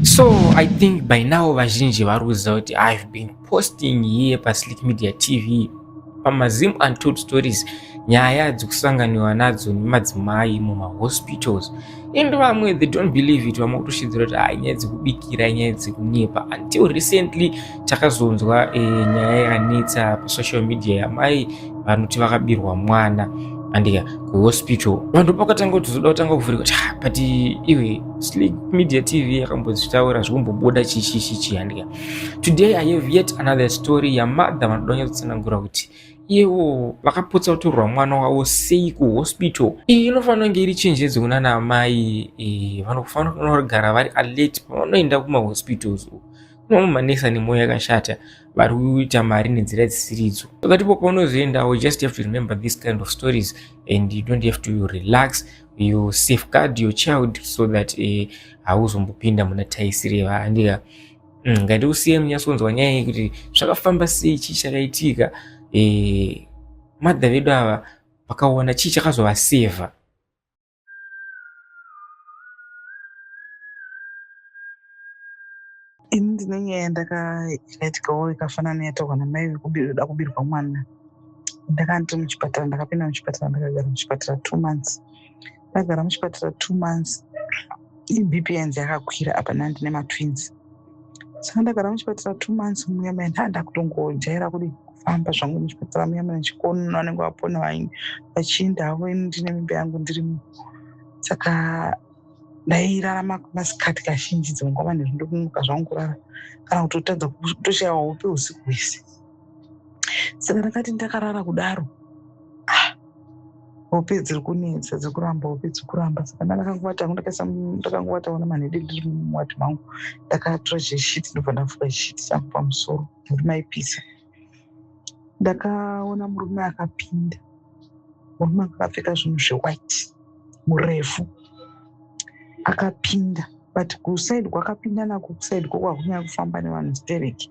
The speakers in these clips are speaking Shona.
So I think by now vazhinji vari kuziva kuti I've been posting here paSlick Media TV pamaZim Untold Stories nyaya dzekusanganiwa nadzo nemadzimai mumahospitals and vamwe they don't believe it vamwe kutoshidzira kuti ah nyaya dzekubikira nyaya dzekunyepa until recently takazonzwa e, nyaya yanetsa pasocial media yamai vanoti vakabirwa mwana andika kuhospital vanhu pakatanga kuti zoda kutanga kuvhurika kuti ah, but iwe slick media tv yakambozvitaura zvikumbobuda chishishichi andika today i have yet another story yamadha vanoda kunyatsosanangura kuti iyewo vakapotsa kutorwa mwana wavo sei kuhospital iyi inofanira kunge iri chenjedzo kunana amai e, vanofanira kunogara vari alert pavanoenda kumahospitals uku Mamwe manesa nemwoyo yakashata vari kuita mari nenzira dzisiridzo. Pakati po paunozoendawo, you just have to remember these kind of stories and you don't have to relax, you safeguard your child so that eh, hauzombopinda muna taisiri yevaandika. Mm, Ngati usiye munyasonzwa nyaya iyi kuti zvakafamba sei, chii chakaitika, eh, madha vedu ava vakaona chii chakazovaseva. ini ndine nyaya yandakaiitikawo ikafanana yataurwa namai vekuda kubirwa mwana ndakanti muchipatara ndakapinda muchipatara ndakagara muchipatara two months ndagara muchipatara two months ibp yanzi yakakwira apa nandi nematwins saka ndagara muchipatara two months muya muya ndaanda kutongojaira kudii kufamba zvangu muchipatara muya muya ndichikono vanenge vapona vainge vachienda havo ini ndine mimba yangu ndirimo saka ndairarama masikati kazhinji dzimwe nguva manheru ndokumuka zvangu kurara kana kuti kutadza kutoshaya hope usiku hwese saka ndakati ndakarara kudaro ah, hope dziri kunetsa dziri kuramba hope dziri kuramba saka ndakangowata hangu ndakangowata ona manhede ndiri mumwati mangu ndakatora cheshiti ndobva ndafuka chishiti changu pamusoro nekuti maipisa ndakaona murume akapinda murume akapfeka zvinhu zvewhite murefu akapinda but kusaidi kwakapinda nako kusaidi kwo kwakunyanya kufamba nevanhu stereki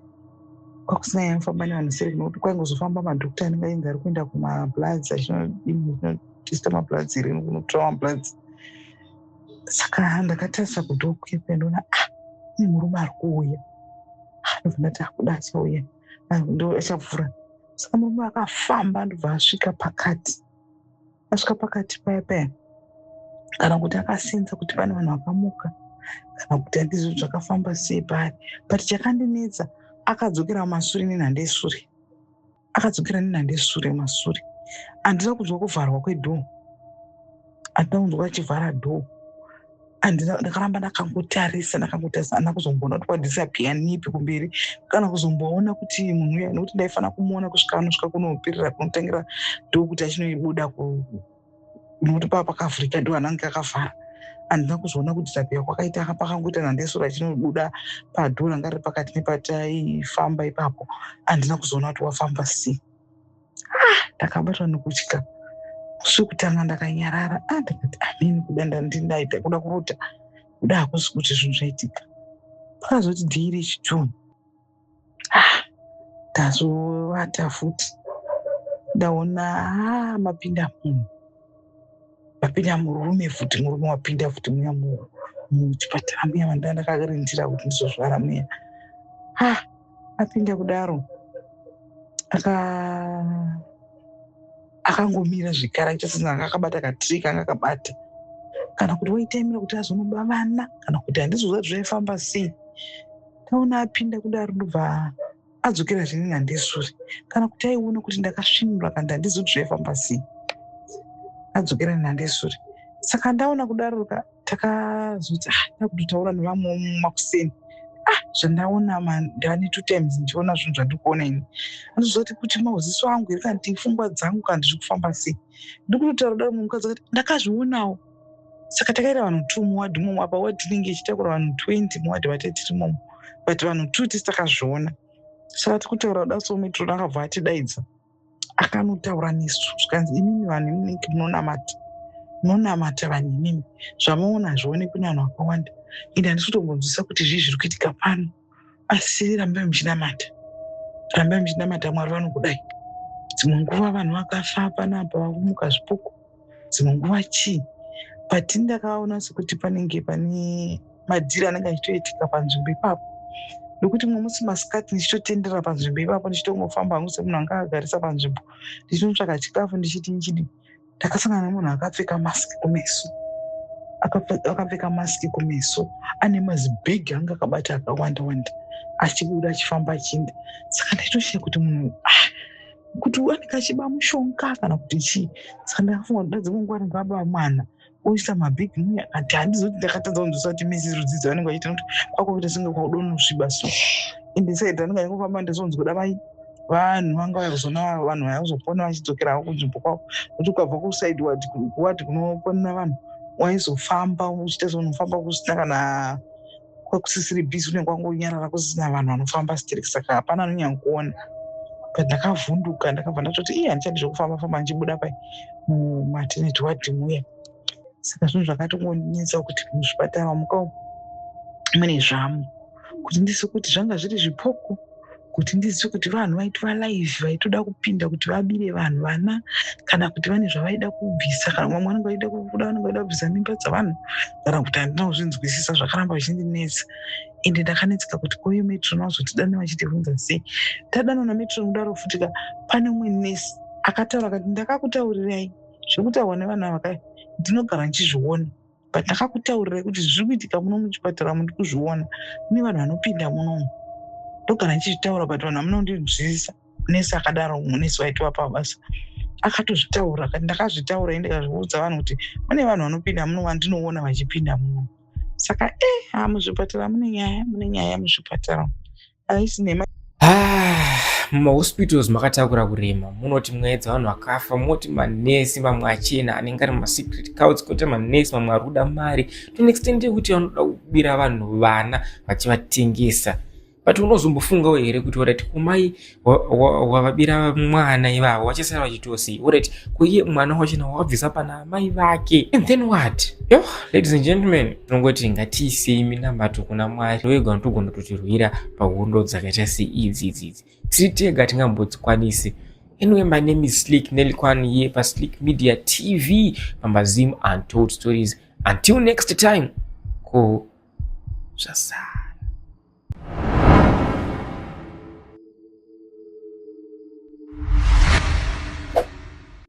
kwakusina yaifamba nevanhu seri kunokuti kwaingozofamba madokta anenge ainzi ari kuenda kumabloods achinodista mabloods irini kunotora mabloods saka ndakatarisa kudhoo kuyepe ndoona ah ne murume ari kuuya ah, ndobva ndati akuda ah, achauya ah, ndo achavhura saka murume akafamba ndobva asvika pakati asvika pakati paya paya kana kuti akasenza kuti pane vanhu vakamuka kana kuti andizvo zvakafamba sei paya but chakandinetsa akadzokera masure nenhanda esure akadzokera nenhanda esure masure handina kunzwa kuvharwa kwedhoo handina kunzwa achivhara dhoo and ndakaramba ndakangotarisa ndakangotarisa ana kuzomboona kuti kwadisapia nipi kumberi kana kuzomboona kuti munhu uya nekuti ndaifanira kumuona kusvika anosvika kunopirira kunotangira ndokuti achinoibuda nokuti pava pakavhurika ndo anange akavhara andina kuzoona kuti tapia kwakaita pakangoita nandesura chinobuda padhura ngari pakati nepataifamba ipapo andina kuzoona kuti wafamba sei ah, ndakabatwa nekutya musi wekutanga ndakanyarara ah, ndikati amini kuda ndandindaita kuda kurota kuda hakusi kuti zvinhu zvaitika pakazoti dhii rechitunu ah, ndazovata futi ndaona ah, mapinda munhu Papinda murume futi murume wapinda futi muya muchipatara muya vanda ndakakarindira kuti ndizozvara muya. Ha apinda kudaro aka akangomira zvikara chasina anga akabata katiri kanga akabata kana kuti waitaimira kuti azonoba vana kana kuti handizoziva zvaifamba sei taona apinda kudaro ndobva adzokera zvine nandesure kana kuti aiona kuti ndakasvinura kandi handizi kuti zvaifamba sei adzokera nenandesure saka ndaona kudaroka takazoti ah, takutotaura nevamwe makuseni ah zvandaona mandani two times ndichiona zvinhu zvandikuona ini anozoti kuti mauziso angu here kandi pfungwa dzangu kandi zviri kufamba sei ndikutotaura kudaro mumukadzi akati ndakazvionawo saka takaita vanhu two muwadhi imomo apa wadhi inenge ichitakura vanhu 20 muwadhi vate tiri momo but vanhu two tisi takazviona saka tiri kutaura kuda so metrona akabva atidaidza akanotaura nesu zvikanzi imimi vanhu iminenge munonamata munonamata vanhu imimi zvamuona hazvionekwi nevanhu vakawanda ende handisi kutombonzwisa kuti zvii zviri kuitika pano asi rambai muchinamata rambai muchinamata mwari vanokudai dzimwe nguva vanhu vakafa panapa vakumuka zvipuku dzimwe nguva chii but ndakaona sekuti panenge pane madhiri anenge achitoitika panzvimbo ipapo nokuti mumwe musi masikati ndichitotenderera panzvimbo ipapo ndichitongofamba hangu semunhu anga agarisa panzvimbo ndichinotsvaka chikafu ndichiti ndichidii ndakasangana nemunhu akapfeka mask kumeso akapfeka mask kumeso ane mazibhegi anga akabata akawanda wanda achibuda achifamba achienda saka ndaitoshiya kuti munhu ah, kuti anenge achiba mushonga kana kuti chii saka ndakafunga kuti dadzi kunguva ndingabamwana oisa mabig mune akati handizoti ndakatadza kunzwisa kuti misi rudzidzo vanenge vachiita kuti kwakuita senge kwaudonusviba so ende said anenge achingofamba ndizonzi kuda mai vanhu vanga vakuzoona vanhu vaya kuzopona vachidzokerawo kunzvimbo kwavo nokuti ukabva kusaid wadi kuwadi kunoponera vanhu waizofamba uchiita seunofamba kusina kana kwakusisiri busy unenge wangonyarara kusina vanhu vanofamba sterek saka hapana anonyankuona but ndakavhunduka ndakabva ndatoti iye handichadi zvekufamba famba ndichibuda pai mumateneti wadhi muya saka zvinhu zvakatongondinetsa kuti muzvipatara muka mune zvamu kuti ndisi kuti zvanga zviri zvipoko kuti ndizive kuti vanhu vaitwa live vaitoda kupinda kuti vabire vanhu vana kana kuti vane zvavaida kubvisa kana vamwe vanenge vaida kubuda vanenge vaida kubvisa mimba dzavanhu kana kuti handina kuzvinzwisisa zvakaramba zvindinetsa ende ndakanetseka kuti koyo metron vazotidana vachitivunza sei tadanwa nametron kudaro futi ka pane umwe nesi akataura kati ndakakutaurirai zvekutaurwa nevanhu ava kai ndinogara ndichizviona but ndakakutaurirai kuti zviri kuitika muno muchipatara muri kuzviona kune vanhu vanopinda munomu ndogara ndichizvitaura but vanhu hamuna kundinzwisisa nesi akadaro munesi waitova pabasa akatozvitaura kati ndakazvitaura i ndikazviudza vanhu kuti mune vanhu vanopinda muno vandinoona vachipinda muno saka e eh, ha muzvipatara mune nyaya mune nyaya muzvipatara haisi nhema ah, mumahospitals makatakura kurema munoti mwaedza vanhu vakafa moti manesi mamwe achena anenge ari masecret couts koita manesi mamwe ari kuda mari to an extent yekuti vanoda kubira vanhu vana vachivatengesa but unozombofungawo here kuti orit kumai wavabira mwana ivavo vachasara vachitosei orit kuiye mwana wachena wawabvisa pana amai vake and then what yo ladies and gentlemen tinongoti ngatiisei minamato kuna mwari ndoega unotogona kutotirwira pahondo dzakaita seidzi idzidzi tiri tega tingambodzikwanisi Anyway, my name is Slick Nelkwan here for Slick Media TV, Mama Zim Untold Stories. Until next time, go Shazam.